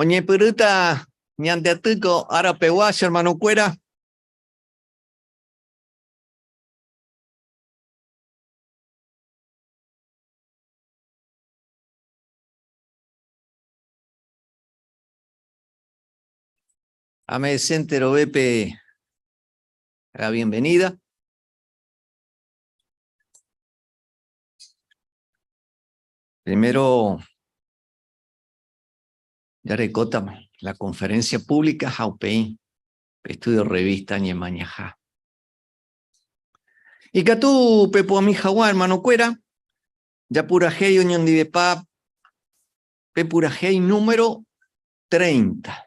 Oñepyrũta ñande atýko ára pegua, che hermano kuéra. Ame Vicente Robepe la bienvenida. Primero, ya recota la conferencia pública Jaupei, estudio revista Ñemañaja. Y Catu Pepo Amijawa, hermano Cuera, Japurahéi oñondivepa pe purahéi número treinta.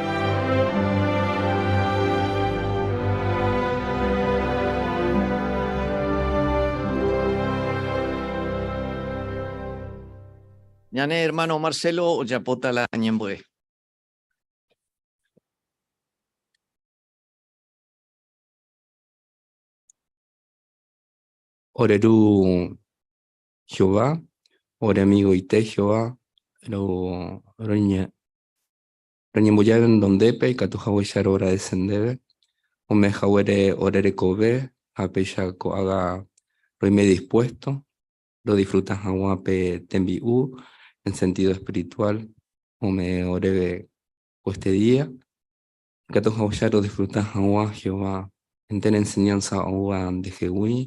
Ñane hermano Marcelo ojapóta la ñembo'e. Ore ru Jehová, ore amigoite Jehová ro, roña, Roñemboja renondépe ikatu hagueicha roagradese ndéve, ome haguére ore rekove ha péicha ko'ágã roime dispuesto rodisfruta hag̃ua pe tembi'u en sentido espiritual ome oréve ko este día. Ikatu hagueicha rodisfruta hag̃ua Jehová entéro enseñánsa oúva ndehegui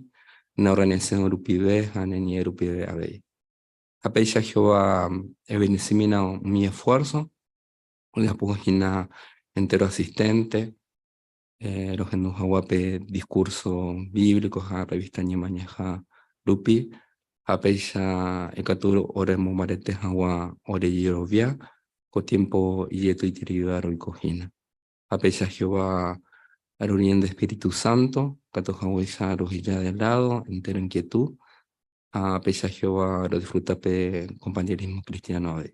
ne orrenesyõ rupive ha ne ñe'ẽ rupive avei. ha péicha Jehová ebendisímina umi esfuérso, ojapo hína entéro asisténte rohendu hagua pe diskúrso bíblico ha rrevísta Ñemañaha rupi, ha péicha ikatu oremombarete hagua ore jerovia ko tiémpo ijetu'iterei róga roiko hína. ha péicha Jehová rorie nde espíritu sánto, katu hag̃uáicha roheja de ládo entéro inkietu, ha péicha Jehová rodisfruta pe kompañerismo kristiáno avei.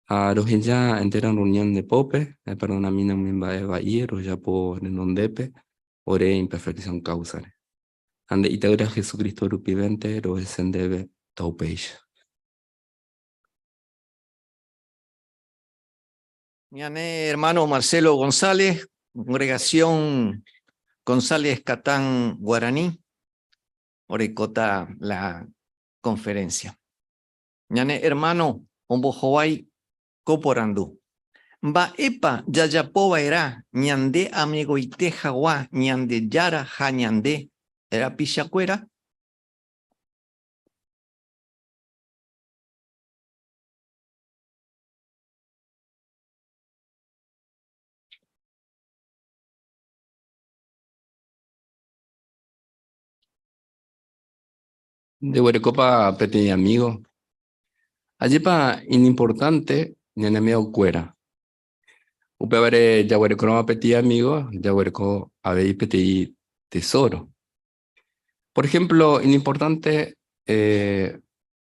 Ha roheja entéro rreunión nde pópe, eperdonamína umi mba'e va'i rojapo renondépe ore imperfección káusare. Ha nde Ita'ýra Jesucristo rupivénte rohese ndéve taupéicha. Ñane hermano Marcelo González, congregación González Catán Guaraní, orekóta la conferencia. Ñane hermano ombohovái ko porandu. Mba'épa jajapo va'erã ñande amegoite hagua Ñandejára ha ñande rapichakuéra? de Guerecopa Peteĩ Amigo. Ajépa inimportante ñane amigo kuéra. Upévare jaguerekorõva peteĩ amigo, jaguereko avei peteĩ tesoro. Por ejemplo, inimportante eh,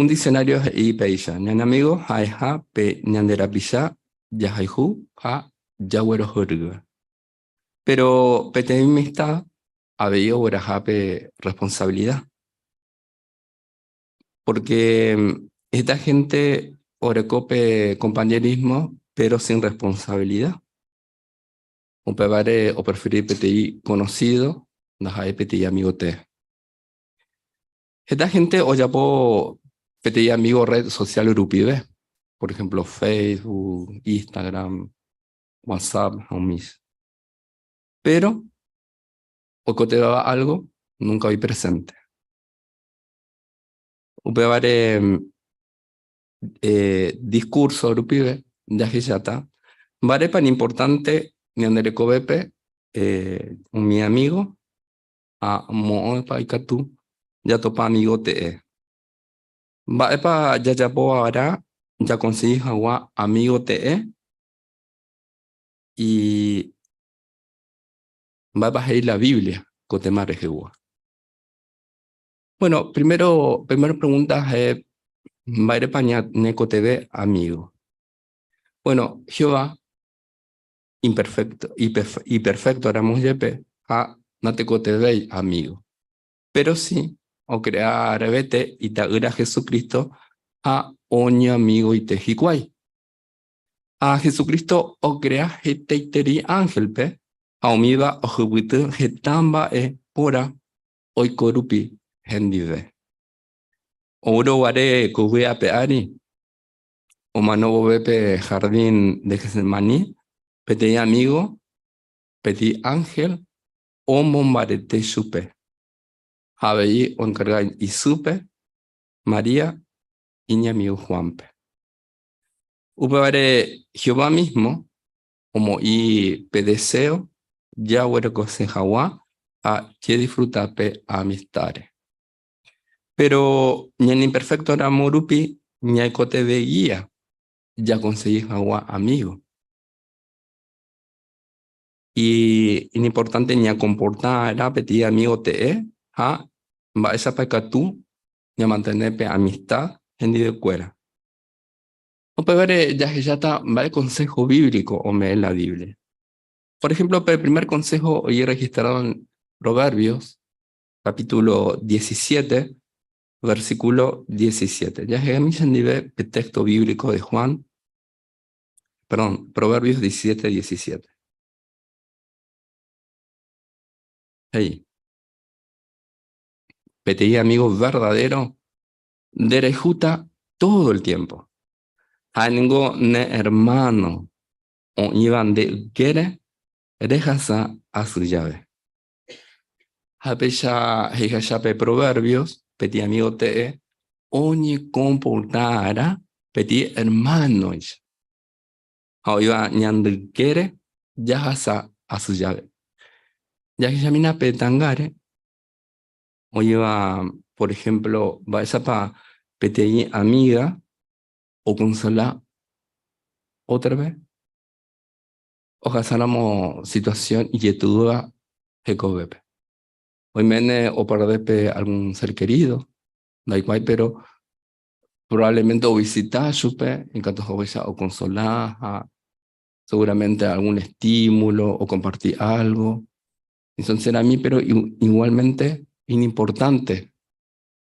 Un diccionario he'i péicha, ñane amigo ha'eha pe ñande rapicha jahayhu ha jaguerohyrýva. Péro peteĩ amista avei ogueraha pe rresponsavilida. Pórke heta hénte oreko pe kompañerismo péro sin rresponsavilida. Upévare opreferi peteĩ konosído ndaha'éi peteĩ amigo tee. Heta gente ojapo peteĩ amigo red social rupive, por ejemplo, Facebook, Instagram, WhatsApp, homies. Pero oikoteva'va algo nunca oĩ presente. Upévare eh, discurso rupive jahecháta mba'érepa ni importante ñande rekovépe eh, umi amigo ha moõpa ikatu jatopa amigo te'e. Mba'épa jajapo va'erã jakonsegi hag̃ua amigo te'e? Y mba'épa he'i la Biblia ko téma rehegua? Bueno, primero, primer pregunta ja'e mba'érepa ñañekotevẽ amigo. Bueno, Jehová imperfékto, iperfékto ramo jepe ha natekotevẽi amígo. Péro si okrea revete Ita'ýra Jesucristo ha oñeamigoite hikuái. Ha Jesucristo okrea hetaiterei ánhelpe ha umíva ohypyty heta mba'e póra oiko rupi hendive. Oúrõ guare ko vy'ape ári, omano vove pe jardín de Getsemaní, peteĩ amígo petĩ ánhel omombarete chupe ha avei oenkarga isýpe María iñamigo Juánpe. Upévare Jehová mísmo omoĩ pe deséo jaguerekosẽ hag̃ua ha jedisfruta pe amistáre. Péro ñaneimperfektoramo rupi ñaikotevẽ gía jakonsegi hag̃ua amígo. Iñimportánte ñakomporta va'erã peteĩ amígo te'ẽ ha mba'éichapa ikatu ñamantene pe amista hendivekuéra. Upévare jahecháta mba'e konsého bíblico ome'ẽ la Biblia. Por ehémplo pe primer konsého ojerregistrado en Proverbios capítulo 17, versículo 17. Jahegami chendive pe texto bíblico de Juan, perdón, Proverbios 17, 17. Hey. Peteí amigo verdadero, derejuta todo el tiempo. Hango ne hermano o iban de gere, rejasa a su llave. Ha péicha he'ihacha pe Proverbios, peteĩ amigo te'e oñekomporta'arã peteĩ hermanoicha. Ha oĩva ñande ykére jahasa asy jave. Jahechamína pe tangáre, oĩva por ejemplo mba'éichapa peteĩ amiga okonsola ótrape. ohasáramo situasión ijetu'úva hekovépe. Oiméne opardé pe algún sér kerído, ndaikuaái péro provablemente ovisita chupe iñkatu hag̃uáicha okonsola ha seguramente algún estímulo okomparti álgo. Sinseramínteko péro iguálmente iñimportánte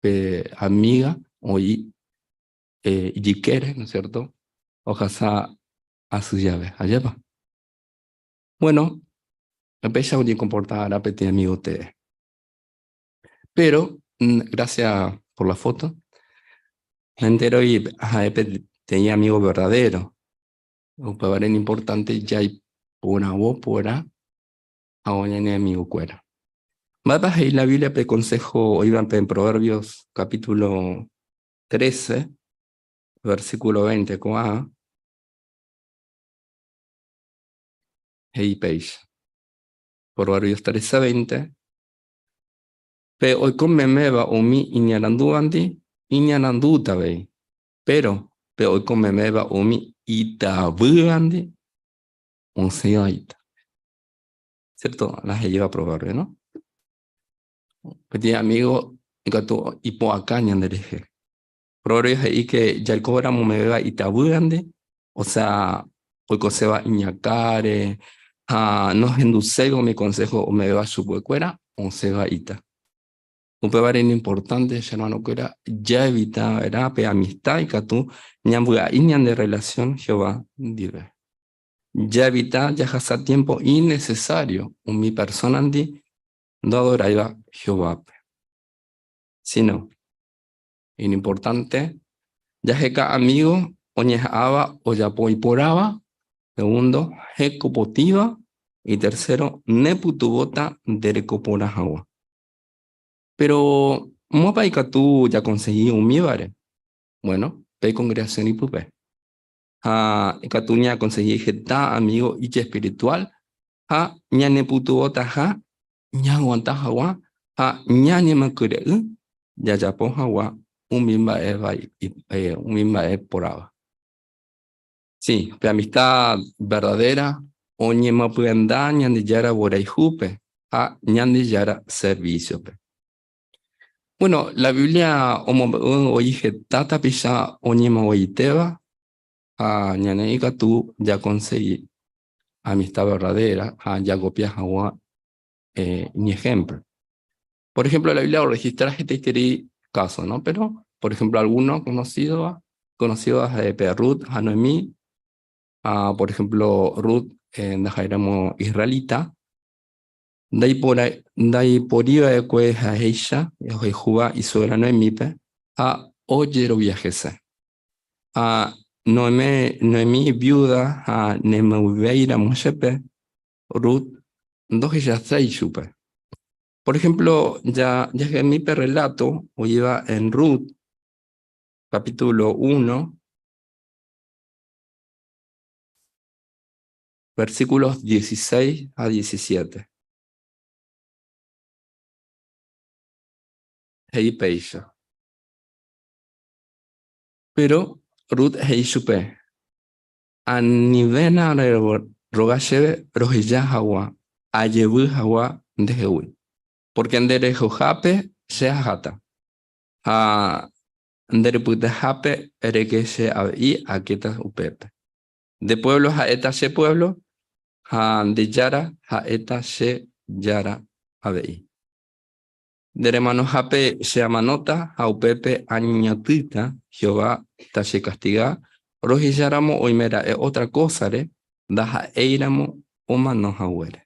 pe amíga oĩ ijykére, no es siérto, ohasa asy jave ajépa. Bueno, péicha oñekomporta va'erã peteĩ amígo tee. Péro, grásia por la foto, naenteroi ha'e peteĩ amígo verdadéro. Upévare ni importante jaiporavo porã hag̃ua ñane amigokuéra. Mba'épa he'i la Biblia pe konsého oĩva pe Proverbios capítulo tréce, versículo 20 ko'ã he'i péicha. Por varios días 13, 20. Pe oiko meméva umi iñarandúvante iñarandúta avei, péro pe oiko meméva umi itavývante osẽva ita. Siérto la he'íva provérvio, no? Peteĩ amígo ikatu ipu'aka ñanderehe. Rory he'i que jaiko vera mombe'éva itavýrande, osea oikoséva iñakãre ha nohenduséiva umi consejo ombe'éva chupekuéra osẽva ita. Upévare iñimportante, che hermanokuéra, jaevita va'erã pe amistad ikatu ñambyai ñande relación Jehová ndive. Jaevita jahasa tiempo innecesario umi personandi ndoadoráiva Jehovápe. Sino, Iñimportánte jaheka amígo oñeha'ãva ojapo iporãva, segundo, heko potĩva, itercero, nepytyvõta ndereko porã hag̃ua. Péro mópa ikatu jakonsegi umívare? Buéno, pe kongregasión ipype. ha ikatu ñaakonsehi heta amígo ijespirituál ha ñanepytyvõtaha ñaaguanta hag̃ua ha ñanemokyre'ỹ jajapo hag̃ua umi mba'e vai, umi mba'e porãva. Sí, pe amista verdadéra oñemopyenda Ñandejára vyrayhúpe ha Ñandejára servísiope. Bueno, la Biblia omombe'u voi heta tapicha oñemoĩitéva ha ñane ikatu jakonsegi amista verdadéra ha jakopia hag̃ua iñehémplo. Por ehémplo, la Biblia orrehestra hetaiterei káso, no? Péro, por ehémplo, algúno konosídova, konosídova ha'e pe Rut ha Noemi. Ha, por ehémplo, Rut ndaha'éramo isrralita, Ndaiporiva'ekue ha'éicha ohayhúva isuegra Noemípe ha ojerovia hese. Ha Noemí, Noemí viúda ha ne mboyvéiramo chepe, Rut ndohechasái ichupe. Por ehémplo ja, jahemi pe rreláto oĩva en Rut, kapítulo uno, Versículos 16 a 17. He'i péicha. Péro Rut he'i chupe, Anivéna reroga chéve roheja hag̃ua ajevy hag̃ua ndehegui, pórke nde rehohápe che aháta, ha nde repytahápe reke che avei akéta upépe. Nde puévlo ha'éta che puévlo ha nde Jára ha'éta che Jára avei. Nde remanohápe che amanóta ha upépe añeñotỹta Jehová tachekastiga, rohecháramo oime ra'e ótra kósare ndaha'éiramo omano haguére.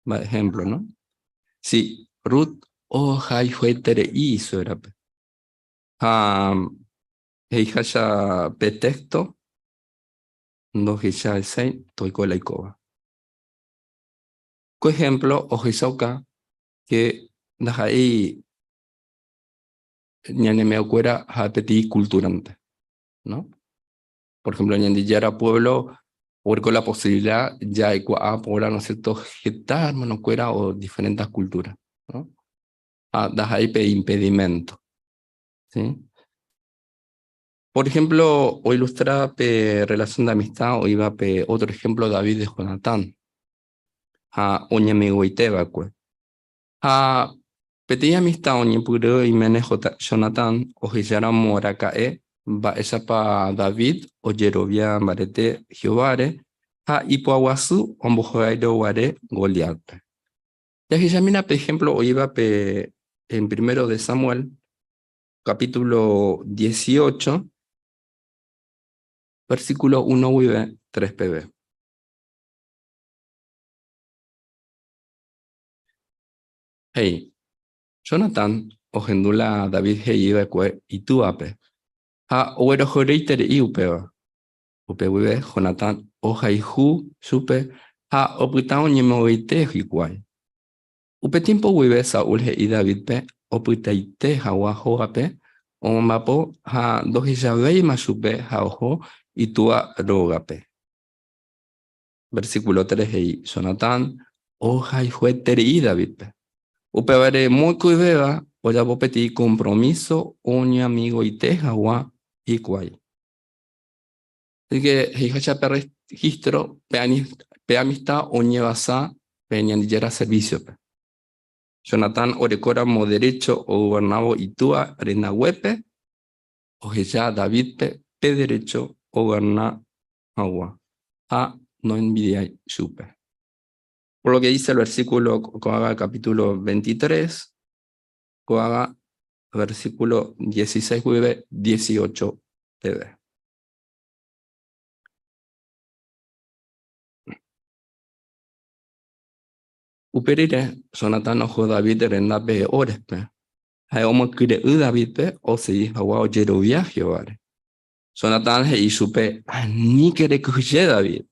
Mba'e ehémplo, no? Si Rut ohayhueterei isuérape, Ha he'iháicha pe téxto ndohechahesãi toiko la ikóva. Ko ehémplo ohechauka ke ndaha'éi ñaneme'ẽkuéra ha peteĩ kultúrante. Por ehémplo Ñandejára puévlo oguereko la posivilida ja'ekuaa porã heta hermanokuéra o diferénte kultúra. ha ndaha'éi pe impedimento. ¿Sí? Por ejemplo, o ilustra pe relación de amistad oiva pe otro ejemplo David de Jonatán. Ha oñemegoite vacue. Ha peteĩ amistad oñepyrũ iméne Jonatán ohecharamo raka'e mba'éichapa David ojerovia mbarete Jehováre ha ipoaguasu ombohogairo guare Goliátpe. Jahechamína pe ehémplo oĩvape en Primero de Samuel, kapítulo dieciocho, versíkulo uno guive tres peve. He'i, Jonatán ohendu la David he'i va'ekue itúvape, ha oguerohoryiterei upéva. Upe guive Jonatán ohayhu chupe ha opyta oñemoĩete hikuái. Upe tiémpo guive Saúl he'i Davídpe opytaite hagua hógape omombapo ha ndohechavéima chupe ha oho itúa rógape. Versíkulo tres he'i, Jonatán ohayhueterei Davídpe. Upévare mokõivéva ojapo peteĩ kompromíso oñamigoite hagua hikuái. Asíke he'iháicha pe rregístro pe amista oñevasa pe Ñandejára servísiope. Jonatán orekóramo derécho ogovernávo itúa rendaguépe, oheja Davídpe pe derécho ogoverna hag̃ua ha noenvidiái chupe. Por lo que dice el versículo ko'ág̃a capítulo 23, ko'ág̃a versículo dieciséis guive dieciocho peve. Upe rire, Jonatán oho David rendápe Orespe. Ha'e omokyre'ỹ Davídpe osegi hagua ojerovia Jehováre. Jonatán he'i chupe, Aníke rekyhyje David.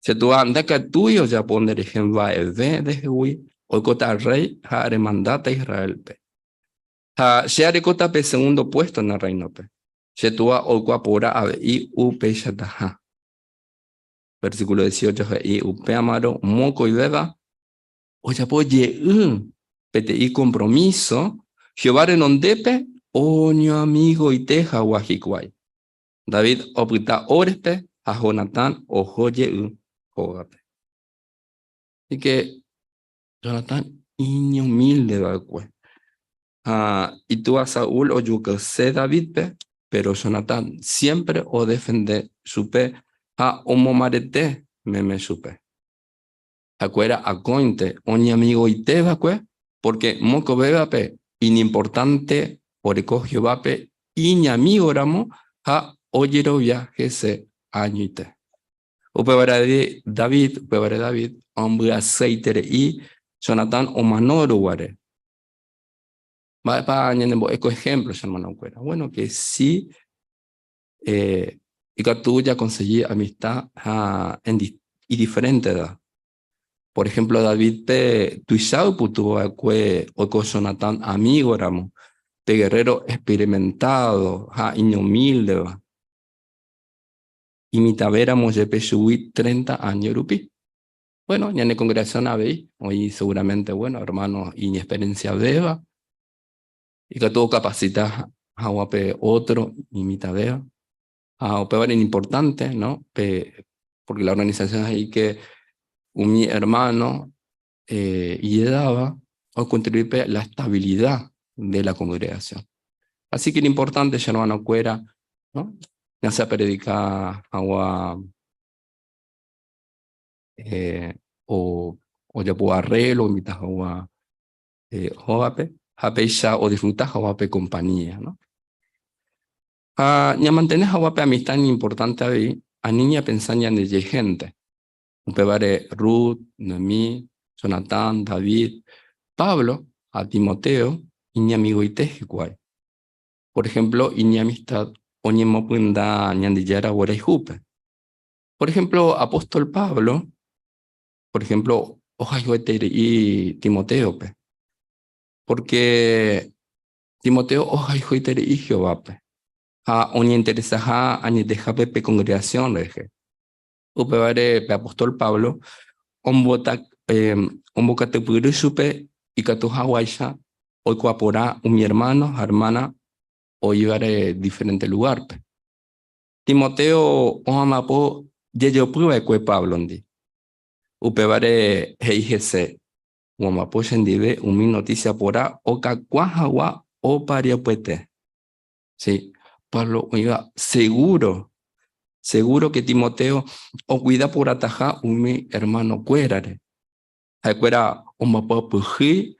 Che túa ndakatúi ojapo nderehe mba'eve ndehegui, oikóta rréi ha remandáta Israélpe. Ha che arekóta pe segundo puésto ne rréinope. Che túa oikuaa porã avei upeichataha. Versíkulo dieciocho he'i upémarõ mokõivéva ojapo jeý'ỹ peteĩ kompromíso Jehová renondépe oñoamigoite hagua hikuái. David opyta Horespe ha Jonatán oho jey hógape. Así que Jonatán iñumilde va'ekue. Ha itúa Saúl ojukaise Davídpe, péro Jonatán siémpre odefende chupe ha omomarete meme chupe. hakuéra akóinte oñamigoite va'ekue, pórke mokovévape iñimportánte oreko Jehovápe iñamígoramo ha ojerovia hese añoite. Upévare David ombyaseitere'i Jonatán omano ruguáre. Mba'épa ñanembo'e ko ehémplo, che ermanokuéra? Bueno, ke si ikatu jakonsegi amista ha idiferénteva. Por ehémplo Davítpe tuicha oipytyvõ va'ekue oiko Jonatán amígoramo, pe gerréro experimentádo ha iñumíldeva, imitãvéramo jepe chugui treinta áño rupi. Buéno, ñane kongregasión avei oĩ seguramente ermáno iñexperensiavéva. ikatu okapasita hag̃ua pe ótro imitãvéva. Ha upévare iñimportánte, no? Pe, pórke la organisasión he'íke umi ermáno ijedáva okontribui pe la estabilida de la kongregasión. Asi ke iñimportánte che ermanokuéra, no? Ya sea apredika hag̃ua ojapo arrélo, oinvita hag̃ua Jehovápe ha péicha odisfruta hagua pe kompañía. Ha ñamantene hagua pe amista ni importante avei, ani ñapensa ñandeje hénte. Upévare Rut, Noemí, Jonatán, David, Pablo ha Timoteo iñamigoite hikuái. Por ehémplo, iñamistad oñemopyta Ñandejára guarayhúpe. Por ehémplo, apóstol Pablo por ehémplo, ohayhueterei Timotéope. Pórke Timoteo ohayhueiterei Jehovápe ha oñeinteresaha añetehápe pe kongregasión rehe. Upévare pe apóstol Pablo ombokatypyry chupe ikatu haguáicha oikuaa porã umi ermáno ha ermána oívare diferénte lugárpe. Timoteo ohamapo jejopy va'ekue Páblondi. Upévare he'i hese, Omapo chendive umi notísia pora okakuã hagua opa ryapuete. Sí, Pablo oĩva segúro, segúroke Timoteo okuida porãtaha umi ermanokuérare. Ha'ekuéra omboapyahýi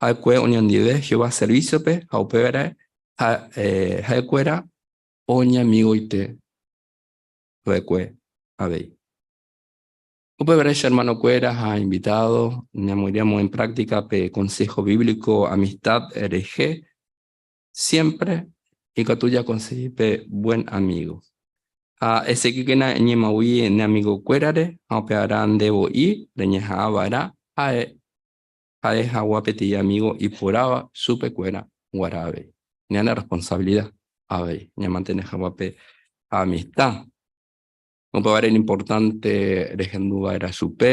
va'ekue oñondive Jehová servísiope ha upévare ha'ekuéra oñamigoite va'ekue avei. Upevare, che hermanokuéra ha invitado, ñamoirũ amo en práctica pe consejo bíblico amistad rehe, siempre ikatu jakonsegi pe buen amigo. Ha eseguikena eñemagui ne amigokuérare ha upearã nde voi reñeha'ã va'erã ha'e ha'e hagua peteĩ amígo iporáva chupe kuéra guarã avei. Ñane rresponsavilida avei ñamantene hagua pe amista. Upévare importante rehendu va'erã chupe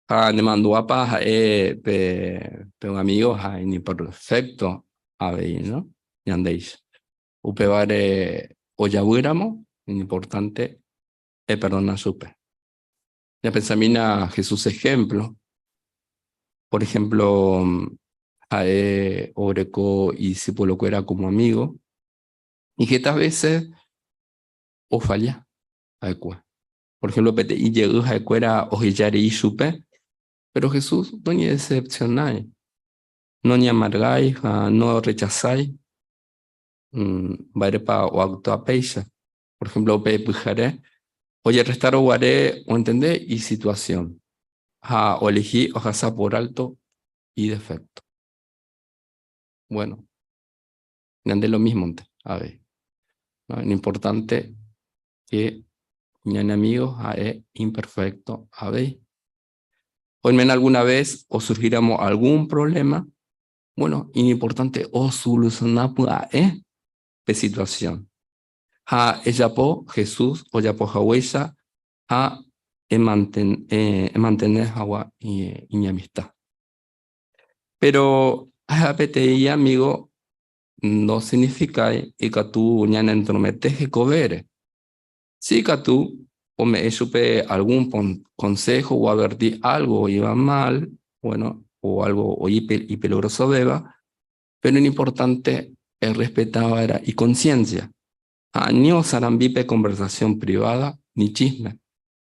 ha nemandu'ápa ha'e pe un amígo ha inimperfékto avei ñandéicha. Upévare ojavýramo inimportánte eperdona chupe. Ñapensamína Jesús ehémplo. Por ehémplo, ha'e oreko idisipulokuéra kómo amígo, ni heta vése ofalla ha'ekuéra. Por ehémplo, peteĩ jey ha'ekuéra oheja rei chupe, péro Jesús noñedesepsiona, noñeamargái ha norrechasái. Mba'érepa oaktua péicha? por ejemplo, upe pyhare ojerrestaro guare oentende isituasiõ ha oelehi ohasa por álto idefékto. Bueno, ñande lo mísmonte avei. Lo importante ke ñane amigo ha'e imperfékto avei. Oiméramo alguna ves osurhíramo algún provléma, bueno, iñimportánte osolusiona pya'e pe situasiõ. ha ejapo Jesús ojapo haguéicha ha emantene hagua iñamista. Péro ahe'a peteĩ amígo ndosignifikái ikatu ñanetromete hekovére. Si ikatu ome'ẽ chupe algún konsého oadverti álgo oĩva mál o álgo oĩ ipeligrosovéva, Péro iñimportánte errespeta va'erã ikonsiénsia ha ani osarambi pe konversasión priváda ni chísme,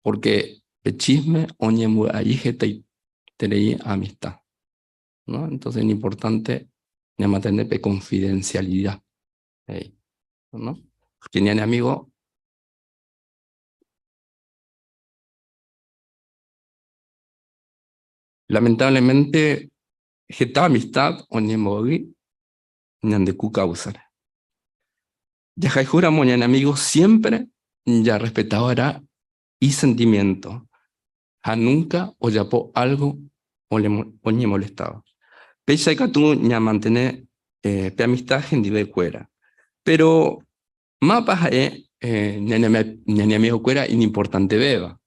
pórke pe chísme oñembyai hetaiterei amista. Entónse iñimportánte ñamantene pe konfidensialida, he'i. Pórke ñane amígo lamentávlemente heta amistad oñembo'y ñande ku káusare. Jahayhu ramo ñane amigo siémpre jarrespeta va'erã isentimiénto ha núnka ojapo álgo oñemolestáva. Péicha ikatu ñamantene pe amista hendivekuéra. Péro mápa ha'e ñane amigokuéra iñimportantevéva?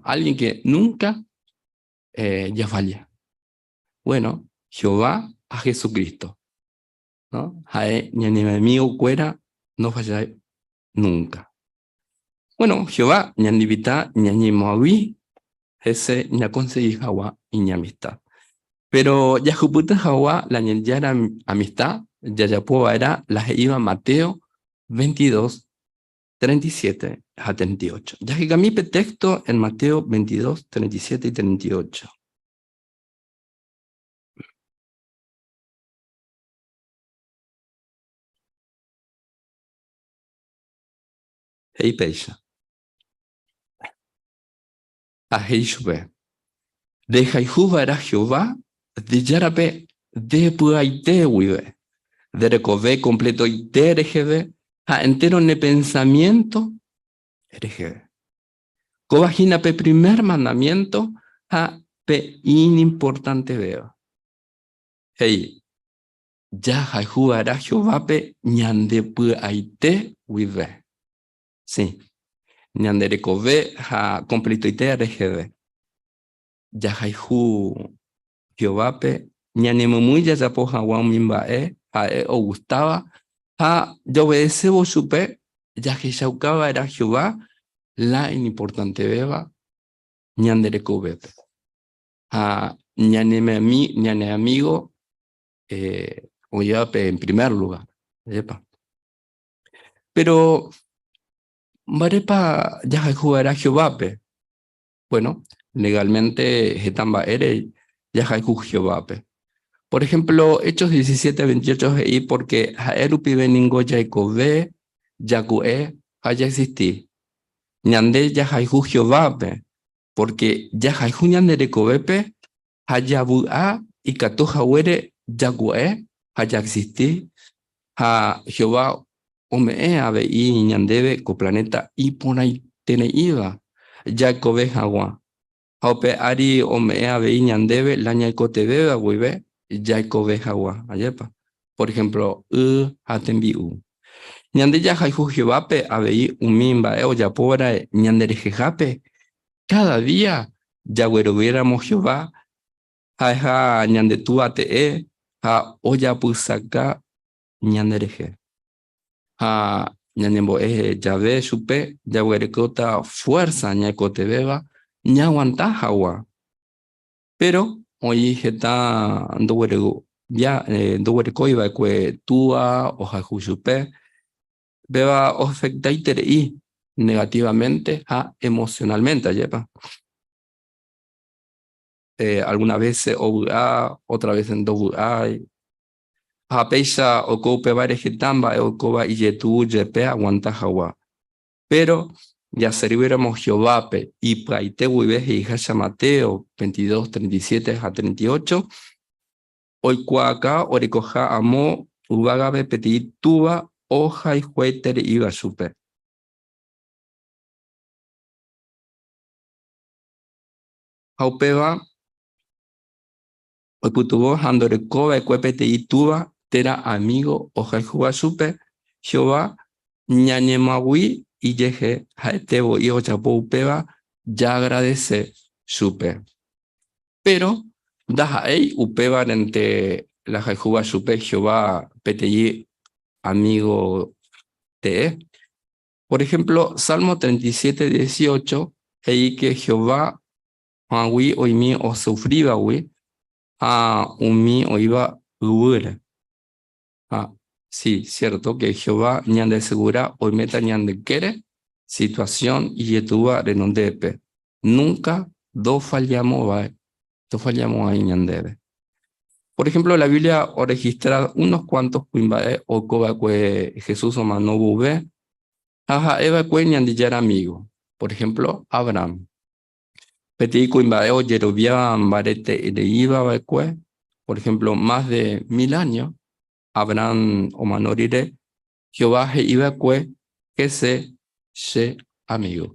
Álgien ke núnka jafalla. Bueno, Jehová ha Jesucristo, no? Ha'e ñane amigo kuéra no falla nunca. Bueno, Jehová ñandivita ñañemoagui hese ñakonsegi hagua iñamistad. Pero jahupyty hagua la Ñandejára amistad jajapo va'erã la he'íva Mateo 22, 37 ha 38. Jahekami pe texto en Mateo 22, 37 y 38. He'i péicha. Ha he'i chupe, Ndehayhu va'erã Jehová nde Járape nde py'aite guive. Nde rekove kompletoite reheve ha entéro ne pensamiénto reheve. Kóva hína pe primer mandamiénto ha pe iñimportantevéva. He'i, Jahayhu va'erã Jehovápe ñande py'aite guive. Sy, ñande rekove ha kompletoite reheve. Jahayhu Jehovápe ñanemomýi jajapo hag̃ua umi mba'e ha'e ogustáva ha jaovedesévo chupe, jahechauka va'erã Jehová la iñimportantevéva ñande rekovépe ha ñane amígo oĩvape en primer lugár. Jepa. Péro mba'érepa jahayhu va'erã Jehovápe? Bueno, legálmente heta mba'ére jahayhu Jehovápe. Por ehémplo, Hechos 17, 28 he'i pórke ha'e rupive ningo jaikove, jaku'e ha jaexisti. Ñande jahayhu Jehovápe, pórke jahayhu ñande rekovépe ha javy'a ikatu haguére jagua'e ha jaexisti, ha Jehová ome'ẽ avei ñandéve ko planéta iporãitereíva jaekove hag̃ua, ha upe ári ome'ẽ avei ñandéve la ñaikotevẽva guive jaekove hag̃ua. Ajépa! Por ehémplo, y ha tembi'u. Ñande jahayhu Jehovápe avei umi mba'e ojapova'erã ñanderehehápe Káda día jagueroviéramo Jehová ha'eha ñande Túa te'e ha ojapysaka ñanderehe, ha ñañembo'e jave chupe jaguerekóta fuérsa ñaikotevẽva ñaaguanta hagua. Péro oĩ heta ndoguerekóiva'ekue Túa ohayhu chupe Péva oafektaiterei negativamente ha emocionalmente, ajépa. Alguna vése ovy'a, ótra vése ndovy'ái. Ha péicha oiko upevare heta mba'e oikóva ijetu'u jepe aguanta hagua. Péro jaservíramo Jehovápe ipyaite guive he'iháicha Mateo veintidós, treinta y siete ha treinta y ocho, Oikuaaka orekoha amo yvágape peteĩ túva ohayhuete re'íva chupe. Ha upéva oipytyvõ ha ndoreko va'ekue peteĩ túva térã amígo ohayhúva chupe, Jehová ñañemoag̃ui ijehe ha'ete voi ojapo upéva jaagradese chupe. Péro ndaha'éi upévarente la jayhúva chupe Jehová peteĩ amígo tee. Por ehémplo, Salmo treinta y siete dieciocho he'íke Jehová haguã oĩmi osufrívagui ha umi oĩva yvýre. Ha si siértoke Jehová ñandesegura oiméta ñanekére situasión ijetúva renondépe, núnka ndofallámo'ãi ñandéve. Por ehémplo, la Biblia orrehestra unos kuántos kuimba'e oiko va'ekue Jesús omano vove ha ha'e va'ekue Ñandejára amígo, por ehémplo, Abrahán. Peteĩ kuimba'e ojerovia mbaretereíva va'ekue, por ehémplo, más de mil áño Abrahán omano rire, Jehová he'i va'ekue, Hese che amigo.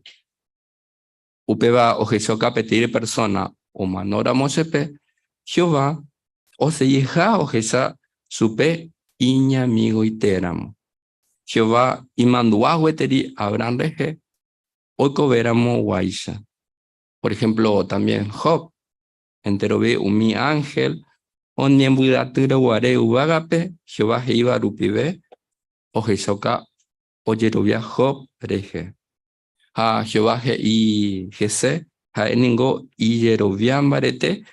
Upéva ohechakuaa peteĩ persóna omanóramo chepe, Jehová oseiha ohecha chupe iñamigoitéramo. Jehová imandu'a gueteri Abrahán rehe Oikovéramo guáicha, por ehémplo también Job, enterove umi ánhel oñembyatyre guare yvágape Jehová he'íva rupive, ohechauka ojerovia Job rehe. Ha Jehová he'i hese ha'e ningo ijerovia mbarete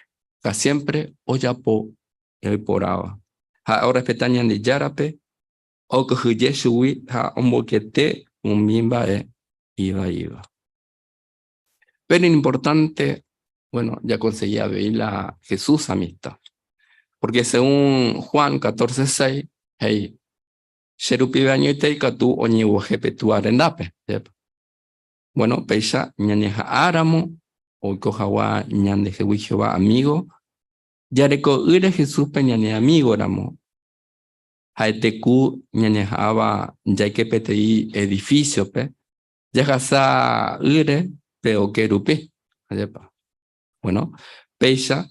ha siémpre ojapo ñaiporãva. Ha'e orrespeta Ñandejárape okyhyje chugui ha omboykete umi mba'e ivaíva. Péro iñimportánte, buéno, jakonsegi avei la Jesús amista. Pórke según Juan catorce seis he'i, Che rupive añoite ikatu oñeguaje pe Túa rendápe, jeýpa. Buéno, péicha ñañeha'ãramo oiko hagua ñandehegui Jehová amígo, jareko'ỹre Jesúspe ñane amígoramo. ha'ete ku ñañeha'ãva jaike peteĩ edifísiope jahasa ýre pe oke rupi. Ajépa. Bueno, péicha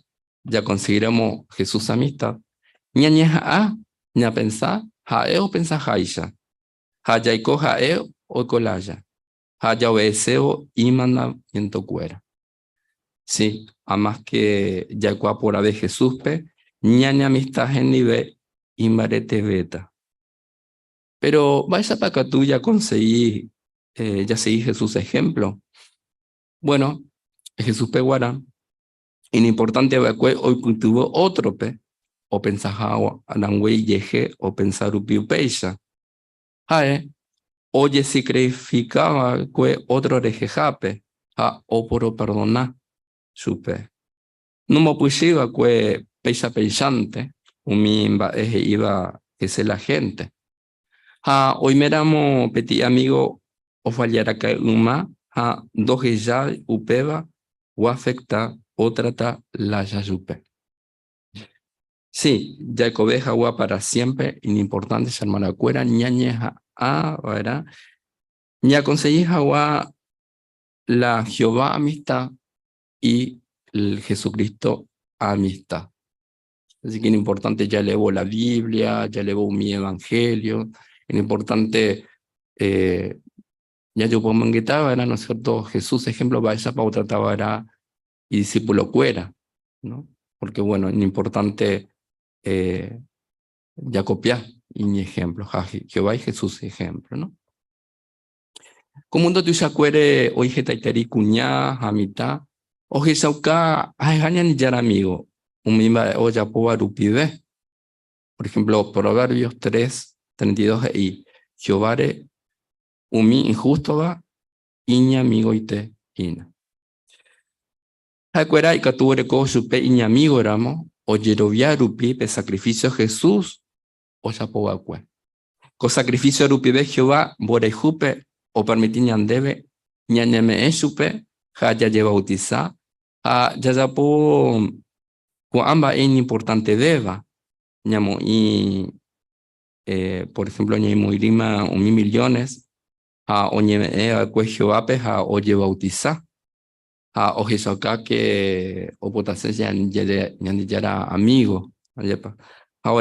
jakonsiguiremo Jesús amista, ñañeha'ã ñapensa ha'e opensaháicha, ha jaiko ha'e oiko lája, ha jaobedesévo imandamientokuéra. Si, ha máske jaikuaa porãve Jesúspe, ñaneamista hendive imbaretevéta. Péro mba'éichapa katu jakonsegi jasegi Jesús ehémplo? Buéno, Jesúspe g̃uarã iñimportánte va'ekue oipytyvõ ótrope opensa hag̃ua, rangue ijehe opensa rupi upéicha. Ha'e ojesikrifika va'ekue ótro rehehápe ha oporeperdona chupe. Nomopysyi va'ekue péicha peichánte umi mba'e he'íva hese la hénte. Ha oiméramo peteĩ amígo ofalláraka'e yma ha ndohejái upéva oafekta ótrata lája chupe. Si, jaikove hagua para siémpre iñimportánte che hermanakuéra ñañeha'ã va'erã ñakonsegi hagua la Jehová amista y la Jesucristo amista. Asi ke iñimportánte jalevo la Biblia, jalevo umi evanhélio, iñimportánte ñajopomyengeta va'erã, no es siérto, Jesús ehémplo mba'éichapa otrata va'erã idisipulokuéra, pórke buéno, iñimportante jakopia iñehémplo, ha Jehovágui Jesús ihémplo. Ko múndo tuichakuére oĩ hetaiterei kuña ha mitã ohechauka ha'eha Ñandejára amígo umi mba'e ojapóva rupive. Por ehémplo, Proverbios tres, treinta y dos he'i, Jehováre umi inhústova iñamigoite hína. Ha'ekuéra ikatu oreko chupe iñamígoramo ojerovia rupi pe sakrifísio Jesús ojapo va'ekue. Ko sakrifísio rupive Jehová mborayhúpe opermiti ñandéve ñañeme'ẽ chupe ha jajevautisa ha jajapo ko'ã mba'e iñimportantevéva, ñamoĩ, por ehémplo, ñaimoĩrĩma umi miliónes ha oñeme'ẽ va'ekue Jehovápe ha ojevautisa, ha ohechaukáke opotase Ñandejára amígo. Ha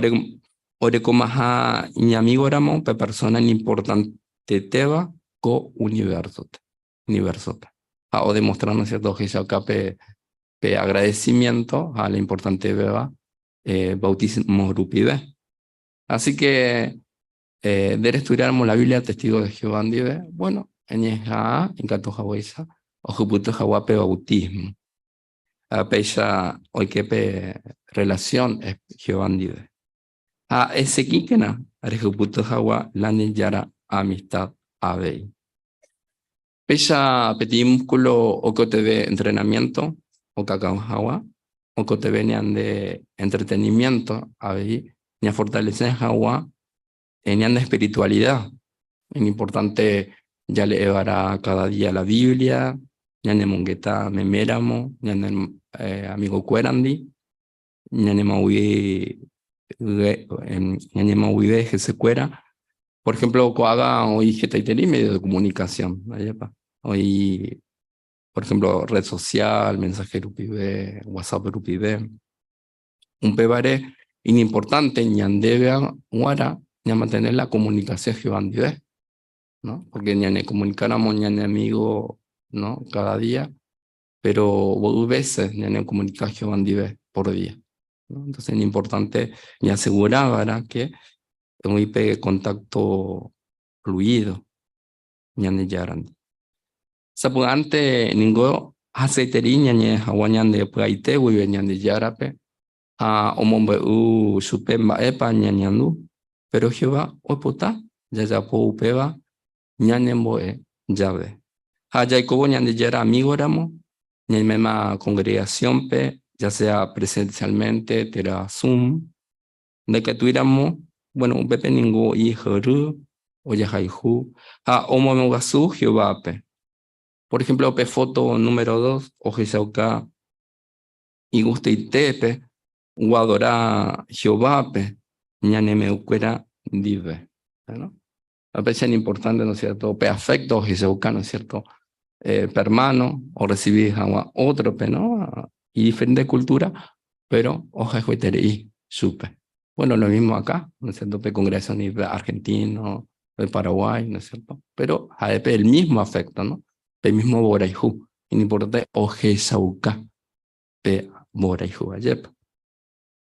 orekomaha iñamígoramo pe persóna iñimportantetéva ko univérsope, ha odemostra ohechauka pe agradesimiénto ha la importantevéva vautísmo rupive. Asíke Eh, de restudiáramo la Biblia testigo de Jehová ndive, bueno, eñeha'ã ikatu haguéicha ohypyty hagua pe bautismo. Ah, péicha oike pe relación Jehová ndive. Ha eseguíkena rehypyty hagua la Ñandejára amistad avei. Péicha peteĩ múskulo oikotevẽ entrenamiénto okakão hag̃ua, oikotevẽ ñande entreteniménto avei ñafortalese hag̃ua ñande espiritualida. Iñimportánte jale'e va'erã káda día la Biblia, ñañemongeta meméramo ñane amigokuérandi, ñanemoag̃uive hesykuéra. Por ehémplo ko'ág̃a oĩ hetaiterei médio de komunikasión, mba'érepa? Oĩ por ehémplo rred sosial, mensahe rupive, Whatsapp rupive. Upévare iñimportánte ñandéve g̃uarã ñamantene la komunikasión Jehová ndive. Porke ñanekomunikáramo ñane amígo káda día, péro mboy vése ñanekomunika Jehová ndive pór día. Entónse iñimportánte ñasegura va'erã ke oĩ pe kontákto fluído Ñandejárandi. Sapy'ánte ningo hasýeteri ñañe'ẽ hag̃ua ñande py'aite guive Ñandejárape ha omombe'u chupe mba'épa ñañandu. Péro Jehová oipota jajapo upéva ñanembo'e jave ha jaikovo Ñandejára amígoramo, ñaiméma kongregasiónpe, ya sea presensiálmente térã Zoom, ndaikatuíramo, buéno, upépe ningo oĩ ysyry, ojahayhu ha omoamog̃uasu Jehovápe. Por ehémplo pe fóto número dos ohechauka igustaite pe oadora Jehovápe ñane me'ẽkuéra ndive. A veces es importante, ¿no es cierto?, pe afecto ojehechauka, ¿no es cierto?, eh, pe hermano, o recibi hag̃ua ótrope, ¿no?, y diferente cultura, pero ojehueterei chupe. Bueno, lo mismo acá, ¿no es cierto?, pe congregación de argentino, de Paraguay, ¿no es cierto?, pero ha'épe el mismo afecto, ¿no?, pe mismo mborayhu, iñimportante ojehechauka pe mborayhu ajépa.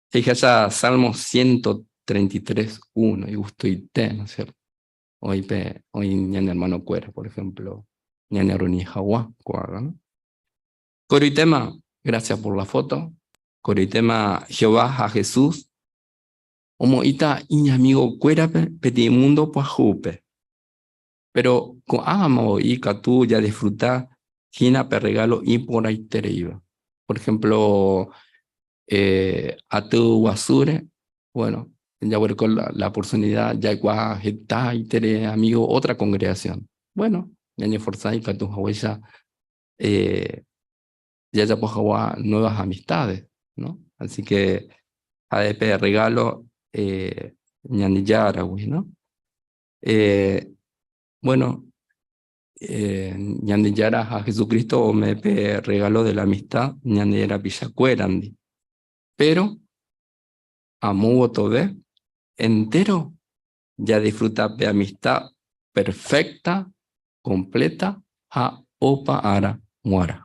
Fíjese Salmo 133, 1, igustoite, ¿no es cierto? Hoy, pe, hoy ñane hermano cuera, por ejemplo, ñane Roni Jagua, cuaga, ¿no? Coritema, gracias por la foto. Coritema, Jehová, a Jesús. Omoita, iña amigo cuera, pe, peti mundo, pues, jupe. Péro ko'ãma voi ikatu jadisfruta hína pe rregálo iporãitereíva. Por ehémplo aty guasúre, bueno, jaguereko la oportunida jaikuaa hetahaiterei amigo ótra kongregasión. Bueno, ñañeforsa ikatu haguéicha jajapo hagua nuevas amistades, ¿no? Así ke ja'e pe rregálo Ñandejára gui, ¿no? Eh, bueno, eh, Ñandejára ha Jesucristo ome pe regalo de la amistad ñane rapichakuérandi. Pero amo votove entero jadisfruta pe amistad perfecta, completa ha opa ára g̃uarã.